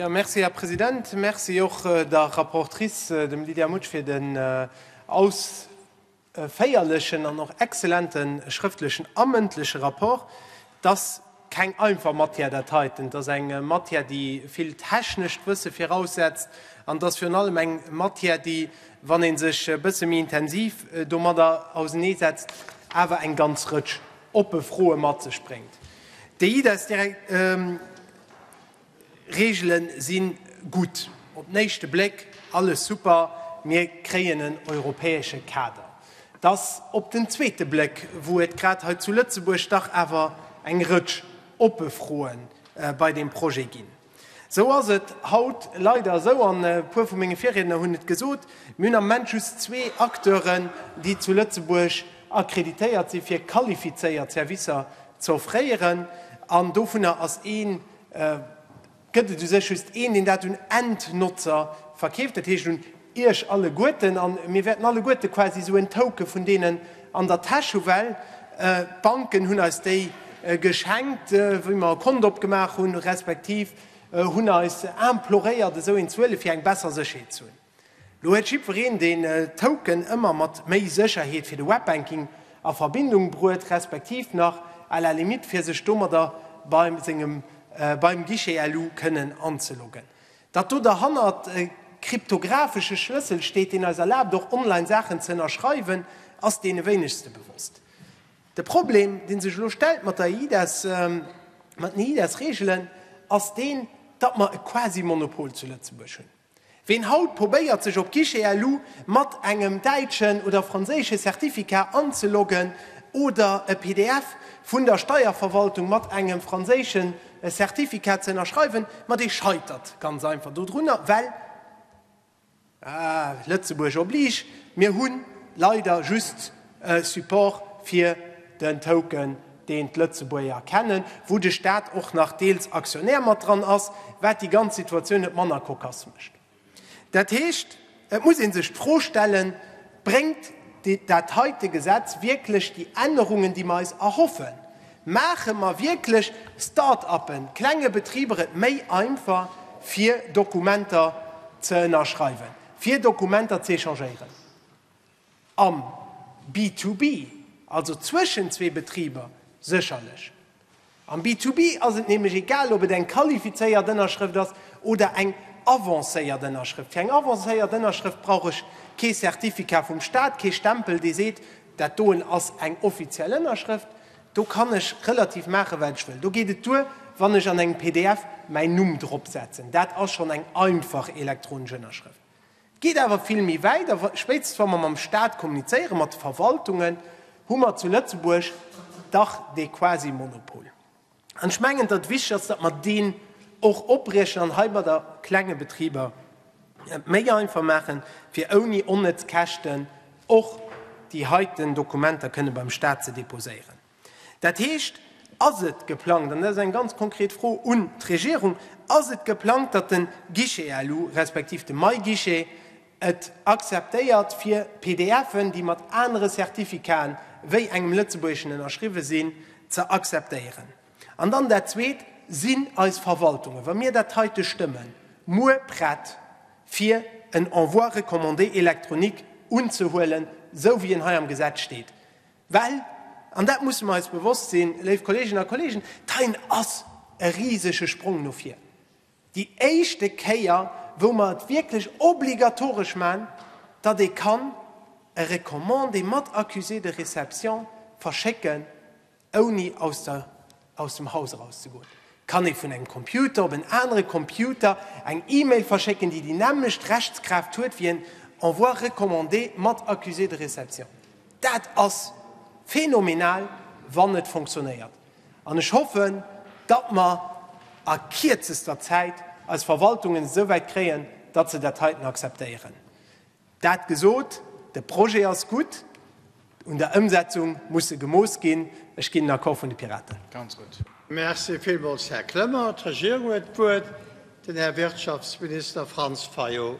Merci, Här President. Merci och der Rapportrice, dem Lydia Mutsch, fir den ausféierlechen an och exzellente schrëftlechen a mëndleche Rapport. Keng einfach Matière dat heiten. Et ass eng Matière, déi vill technescht Wësse viraussetzt, an et ass virun allem eng Matière, déi, wann ee sech e bësse méi intensiv domadder auseneesetzt, awer eng ganz Rëtsch oppe Froe mat sech bréngt. Déi Idesdirek. Reegelen sinn gutt, op den éischte Bléck alles super, mir kréien en europäesche Kader. Et ass op den zweete Bléck, wou et grad hei zu Lëtzebuerg dach awer eng Rëtsch oppe Froen bei deem Projet ginn. Esou ass et haut leider esou, an e puer vu menge Virriedner hunn et gesot, mir hunn am Moment just zwee Acteuren, déi zu Lëtzebuerg accréditéiert sinn, fir qualifizéiert Servicer ze offréieren, an dovunner ass een, gëtt et u sech just een, deen dat un Endnotzer verkeeft, dat heescht un Iech alleguerten. A mir wäerten alleguerte quasi esou en Token vun deenen an der Täsch hu well d'Banken hunn eis déi geschenkt, wéi mer e Kont opgemaach hunn, respektiv hunn eis imploréiert, esou een ze huelen, fir eng besser Sécherheet ze hunn. Lo huet jiddwereen den Token ëmmer mat méi Sécherheet fir de Webbanking a Verbindung bruet, respektiv nach à la limite fir sech domadder bei sengem beim Guichet elu kënnen anzeloggen. Datt do derhannert e kryptografesche Schlëssel steet, deen eis erlaabt och online Saachen ze ënnerschreiwen, ass deene wéinegste bewosst. De Problem dee sech elo stellt mat der eIDAS, mat den eIDAS-Reegelen, ass deen, datt mer e Quasi-Monopol zu Lëtzebuerg hunn. Ween haut probéiert sech op Guichet-LU mat engem däitschen oder franséische Certificat anzeloggen oder e pdf vun der Steierverwaltung mat engem franséische Certificat ze ënnerschreiwen, ma dee scheitert ganz einfach dodrunner, well, ah, Lëtzebuerg oblige, mir hu leider just E Support fir den Token, deen d'Lëtzebuerger kennen, wou de Staat och nach deels Aktionär mat dran ass, wat déi ganz Situatioun net manner kokass mécht. Dat heescht, et muss ee sech d'Fro stellen, Bréngt dat heite Gesetz wierklech déi Ännerungen, déi mer eis erhoffen? Maache mer wierklech Start-uppen, klenge Betriber et méi einfach, fir Dokumenter ze ënnerschreiwen, fir Dokumenter ze échangéieren? Am B2B, also zwëschen zwee Betriber, sécherlech. Am B2B ass et nämlech egal, ob et eng qualifizéiert Ënnerschrëft ass oder eng avancéiert Ënnerschrëft. Fir eng avancéiert Ënnerschrëft brauch ech kee Certificat vum Staat, kee Stempel, dee seet, dat doen ass eng offiziell Ënnerschrëft. Do kann ech relativ maachen, wat ech wëll. Do geet et duer, wann ech an engem pdf mäin Numm dropsetzen. Dat ass schonn eng einfach elektronesch Ënnerschrëft. Et geet awer vill méi wäit a spéitstens wa mer mam Staat kommunizéieren, mat de Verwaltungen, hu mer zu Lëtzebuerg dach dee Quasi-Monopol. An ech mengen, datt et wichteg ass, datt mer deen och opriechen an hei bei de klenge Betriber et méi einfach maachen, fir ouni onnëtz Käschten och déi heiten Dokumenter kënne beim Staat ze deposéieren. Dat heescht, ass et geplangt, an dat ass eng ganz konkret Fro un d'Regierung, ass et geplangt, datt de Guichet elu respektiv de MyGuichet et akzeptéiert fir PDFen, déi mat anere Certificaten wéi engem lëtzebuergeschen ënnerschriwwe sinn, ze akzeptéieren? An dann dat Zweet, Sinn eis Verwaltungen, wa mir dat heite stëmmen, muer prett fir en Envoi recommandé électronique unzehuelen, esou wéi en hei am Gesetz steet? Well, an dat musse mer eis bewosst sinn, léif Kolleeginnen a Kolleegen, d'Heien ass e risege Sprong no vir. Déi éischte Kéier, wou mer et wierklech obligatoresch man, datt ee kann e Recommandé mat Accusé de réception verschécken, ouni aus der Aus dem Haus eraus ze goen. Kann ee vun engem Computer op en anere Computer eng E-Mail verschécken, déi déi nämmlecht Rechtskraaft huet wéi en Envoi recommandé mat Accusé de réception? Dat ass phänomenal, wann et fonctionnéiert. An ech hoffen, datt mer a kierzester Zäit eis Verwaltungen esouwäit kréien, datt se dat heiten akzeptéieren. Dat gesot, de Projet ass gutt, un der Ëmsetzung muss se gemooss ginn. Ech ginn den Accord vun de Piraten. Ganz gutt. Merci villmools, Här Clement. D'Regierung huet d'Wuert, den Här Wirtschaftsminister Franz Fayot.